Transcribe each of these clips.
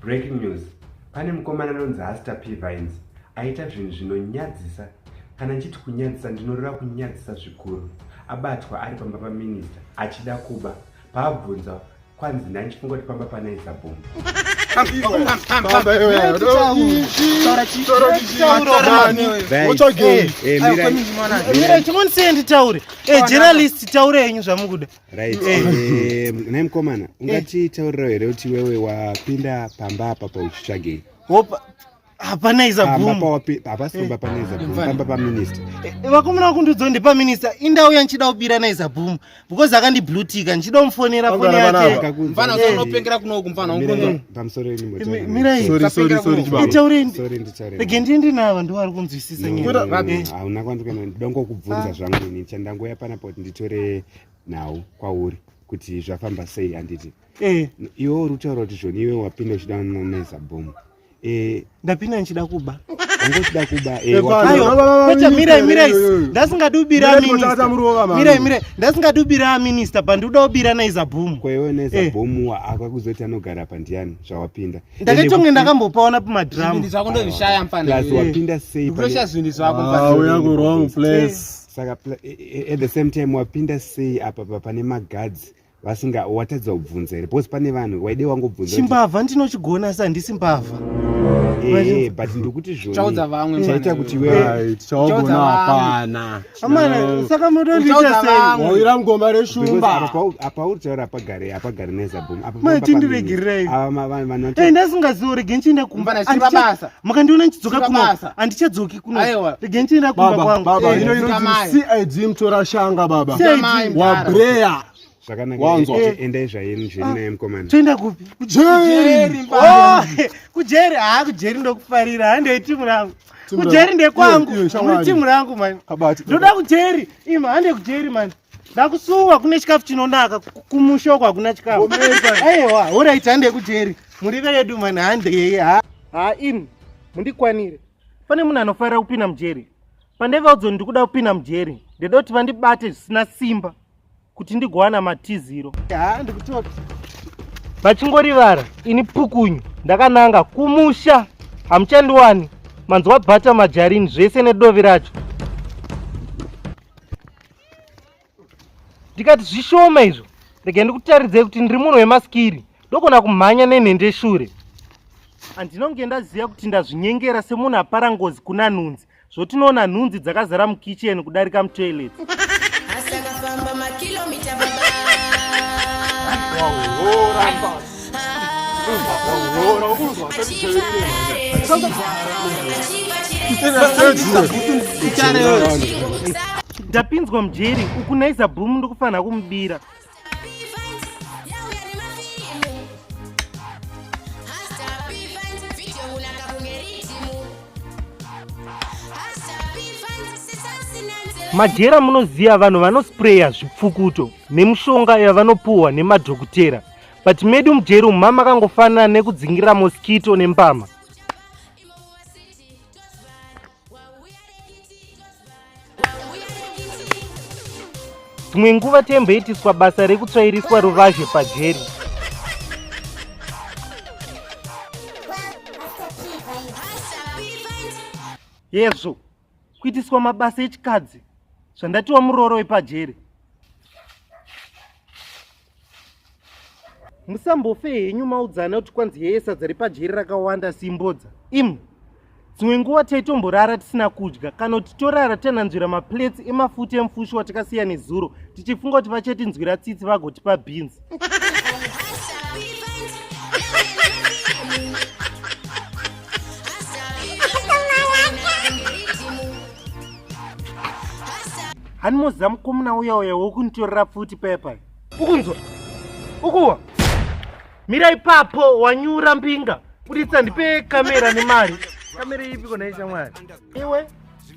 Breaking news. Pane mukomana anonzi Hasta P Vines aita zvinhu zvinonyadzisa. Kana ndichiti kunyadzisa ndinoreva kunyadzisa zvikuru. Abatwa ari pamba paminista achida kuba. Paabvunza kwanzi nhai ndichifunga kuti pamba panaisa bhomba. Mira, chimwe ndiseye nditaure. Eh, journalist taure henyu zvamukuda. Right. Eh, eh, naye mkomana ungatitaurira here kuti wewe wapinda pamba apa pauchitsvagei? Hope hapana iza bvumo. Hapasi pamba pana iza bvumo, pamba pa minister. Eh, vakomana vakundiudza kuti pa minister indau yandichida kubira na iza bvumo because akandi blue tick ndichida kumufonera foni yake. Mfana unopengera kuno uku mfana ungonzo. Pamusoro yenyu moto. Mira iyi. Sorry sorry sorry chibaba. Itaureni. Sorry nditaureni. Rege ndiende navo ndiwo ari kunzwisisa nyaya. Hauna kwandikana ndongo kubvunza zvangu ini chandangoya pana poti nditore nhau kwauri kuti zvafamba sei handiti eh. iwe uri kutaura kuti zvoni iwe wapinda uchida nomeza bhomu eh. ndapinda ndichida kuba angochida kuba eh, kwete mirai mirai ndasingadi ubira mirai mirai ndasingadi ubira minista but ndikuda ubira naizabhomu kwaiwe naizabhomu akwa kuzoti anogara pa ndiani zvawapinda ndakatonge ndakambopaona pamadramu plus wapinda sei saka e, e, at the same time wapinda sei apa papane magadzi vasinga watadza kubvunza here because pane vanhu waide wangobvunza chimbavha ndinochigona asi handisi mbavha eh, but ndikuti zvochaudza vamwe chaita kuti iwe tichaugona hapana amana saka motondiita sei waira ngoma reshumba apa uri taura apagare apagare nezabhom apa mai tindiregerei ava vanhu vanoti eh, ndasingaziorege ndichienda kumba mukandiona ndichidzoka kuno handichadzoki Aiwa. Rege ndichienda kumba Baba, kwangu. baba, Eh, ino inonzi Chikamai. CID mtora shanga baba. Chikamai, mdara. Wabreya. Zvakanaka. Wanzwa. Eh, Endai zvayeni zveni naye mkomana. Toenda kupi? Kujeri. Oh, kujeri haa kujeri ndokufarira haa ndei timu rangu Timu kujeri rangu. ndekwangu Iyo, iyo, shamwari. muri timu rangu mani Kabati. ndoda kujeri ima hande kujeri mani ndakusuwa kune chikafu chinonaka ku- kumusha uko hakuna chikafu aiwa horaiti hande kujeri muri vedu mani hande yeye ha ha in mundikwanire pane munhu anofanira kupinda mujeri pandevaudzo ndikuda kupinda mujeri ndida kuti vandibate zvisina simba kuti ndigowana matiziro vachingorivara ini pukunyu ndakananga kumusha hamuchandiwani manzwa bhata majarini zvese nedovi racho ndikati zvishoma izvo rega ndikutaridzei kuti ndiri munhu wemaskiri ndogona kumhanya nenhende shure handinonge ndaziva kuti ndazvinyengera semunhu apara ngozi kuna nhunzi zvotinoona nhunzi dzakazara mukicheni kudarika mutoilet ndapinzwa mujeri uku naiza boom ndikufanira kumubira majera munoziva vanhu vanospreya zvipfukuto nemushonga yavanopuhwa nemadhokotera but medi mujeri umu mama akangofanana nekudzingira moskito nembama dzimwe nguva temboitiswa basa rekutsvairiswa ruvazhe pajeri yezvo kuitiswa mabasa echikadzi zvandatiwa murooro wepajeri musambofe henyu maudzana kuti kwanzi heye sadza repajeri rakawanda simbodza im dzimwe nguva taitomborara tisina kudya kana kuti torara tananzvira maplates emafuta emufushi watakasiya nezuro tichifunga kuti vachatinzwira tsitsi vagotipa beans hani moziva mukomuna uya uya wokunitorera pfuti pepa ukunzwa ukuwa mira ipapo wanyura mbinga buditsa ndipe kamera nemari kamera ipi kona ishamwari iwe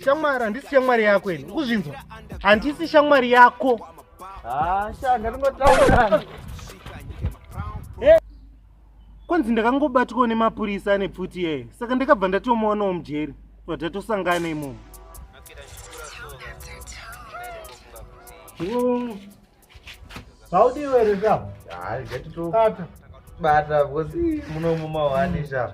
shamwari handisi shamwari yako ini ukuzvinzwa handisi shamwari yako hasha ndaringotaura kwanzi ndakangobatwawo nemapurisa ane pfuti iyeyo saka ndakabva ndatomuonawo mujeri bva tatosangana imomo zvaudii were zvavo bata bata because munomu mawani zvavo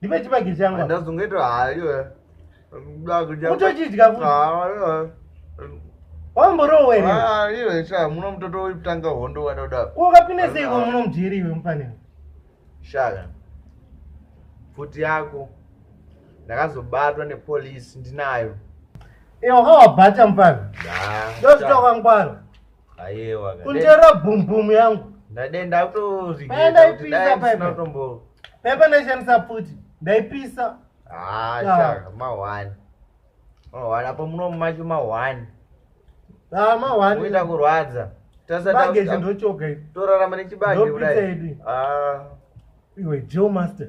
ndipe chibagi changu ndazongoita hayo utochidya wamborowe iwe sha muno mutoto wekutanga hondo wada kuda ukapinda sei kwa muno mujeri iwe mufanira shaka pfuti yako ndakazobatwa nepolisi ndinayo iwe wakawabata mufana ndozvitokangwara Ayewa. Kundera boom boom yangu. Ndade ndakutozvigeza. Ndaipisa paipa. Paipa ndaishandisa pfuti. Ndaipisa. Ah, shaka mahwani. Mahwani apo muno mumacho mahwani. Ah, mahwani. Kuita kurwadza. Tasa bage chindochoka. Torarama nechibage kudai. Ah. Iwe Joe Master.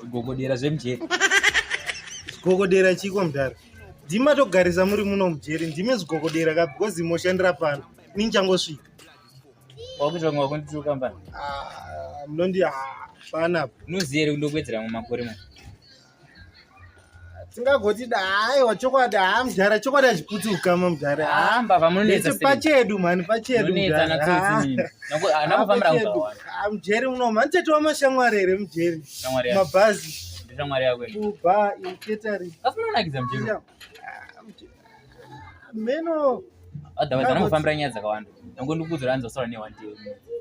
zvigogodera zvemujeri zvigogodera chiko mudhara ndimi matogarisa muri muno mujeri ndimi zvigogodera ka because moshandira pano inini changosvika wakuita kunge wakunditiro kambani ah, munondi ah, pana noziere kundokuwedzera mumakore mwa tingagoti dai wachokwadi haa mudhara chokwadi achiputsi ukama mudhara pachedu mhani pacheduamujeri muno mhani tete wamashamwari here mujeri mabhazi meno otherwise anongofambira nyaya dzakawanda nango ndikuudzira hanzi wasara ne one day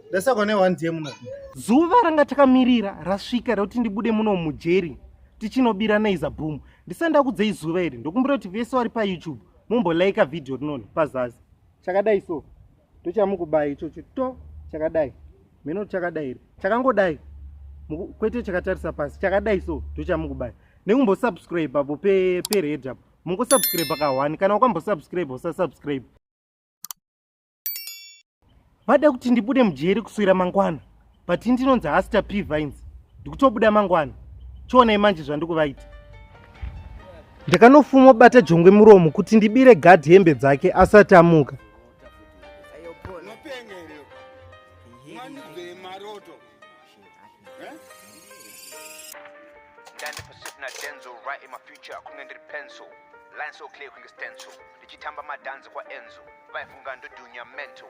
ndasakwa ne one day muno zuva ranga takamirira rasvika rekuti ndibude muno mujeri tichinobira naiza boom ndisanda kudzei zuva iri ndokumbira kuti vese vari payoutube mumbolayika vhidhiyo rinoni pazasi chakadai so ndochamukubayi ichocho to chakadai mheno chakadai iri chakangodai kwete chakatarisa pasi chakadai so ndochamukubayi nekumbosubscribe apo pered pe apo mungosubscribe kahwani kana ukambosubscribe usasubscribe vada kuti ndibude mujeri kuswira mangwana but ini ndinonzi hasta p vines ndikutobuda mangwana chionai manje zvandikuvaita ndakanofuma bata jongwe muromo kuti ndibire gad hembe dzake asati amuka Lines so clear kunge stencil ndichitamba madanzi kwaenzo vaifunga ndodunya mental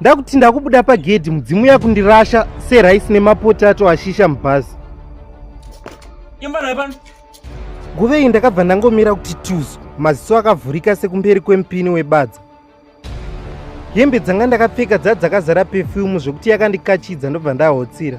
ndakuti ndakubuda pagedhi mudzimu yakundirasha seraisi nemapotato ashisha mubhazi nguva iyi ndakabva ndangomira kuti tuzu maziso akavhurika sekumberi kwemupini webadza hembe dzanga ndakapfeka dzadzakazara pefyumu zvekuti yakandikachidza ndobva ndahotsira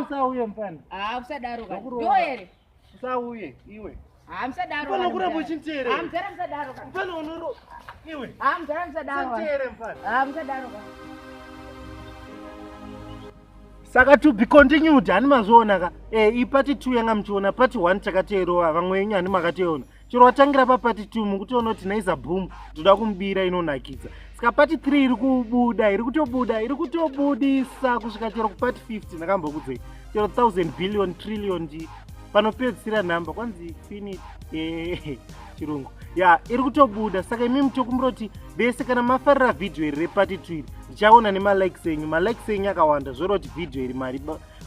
usauye mfana usadaro ndoere usauye iwe saka to be continued hani mazviona ka e eh, ipati two yanga muchiona pati one takateerova vamwe yenyu hani makateona chero watangira papati two mukutoona kuti naiza boom toda kumubira inonakidza saka pati three iri kubuda iri kutobuda iri kutobudisa kusvika chero kupati fifty ndakambokudzei chero thousand billion trillion ji panopedzisira nhamba kwanzi fini eh, chirungu ya iri kutobuda saka imi mutokumbira kuti vese kana mafarira vhidhiyo iri repati two iri ndichaona nemalikes enyu malikes enyu akawanda zvoroti vhidhiyo iri mari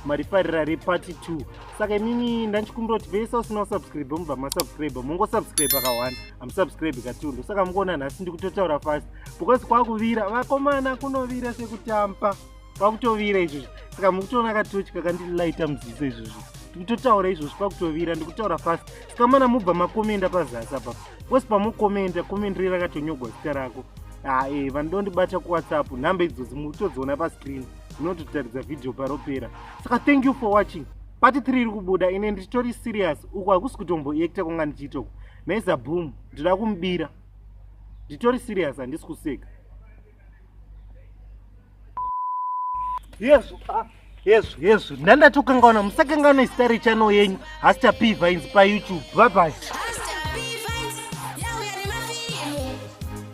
marifarira repati 2 saka imimi ndandichikumbira kuti vese usina kusubscribe mubva masubscribe mongosubscribe akahwana amusubscribe katundo saka mungoona nhasi ndikutotaura fast because kwakuvira vakomana kunovira sekutampa kwakutovira izvozvi saka mukutoona katochi kakandilaita muziso izvozvi ndikutotaura izvozvi pakutovira ndikutaura fast saka mana mubva makomenda pazasi apa wose pamokomenda komendiri rakatonyogwa zita rako haa ah, e eh, vanodondibata kuwhatsapp nhamba idzozi mukutodziona pascreen tinototaridza vhidhiyo paropera saka thank you for watching pati 3 iri kubuda ine nditori serious uku hakusi kutomboekta kwanga ndichiitoko maiza boom ndinoda kumubira nditori serious handisi kuseka yezvo ah, yezvo yezvo ndandatokangaona musakangaona izita rechano yenyu hasita p vines payoutube bye bye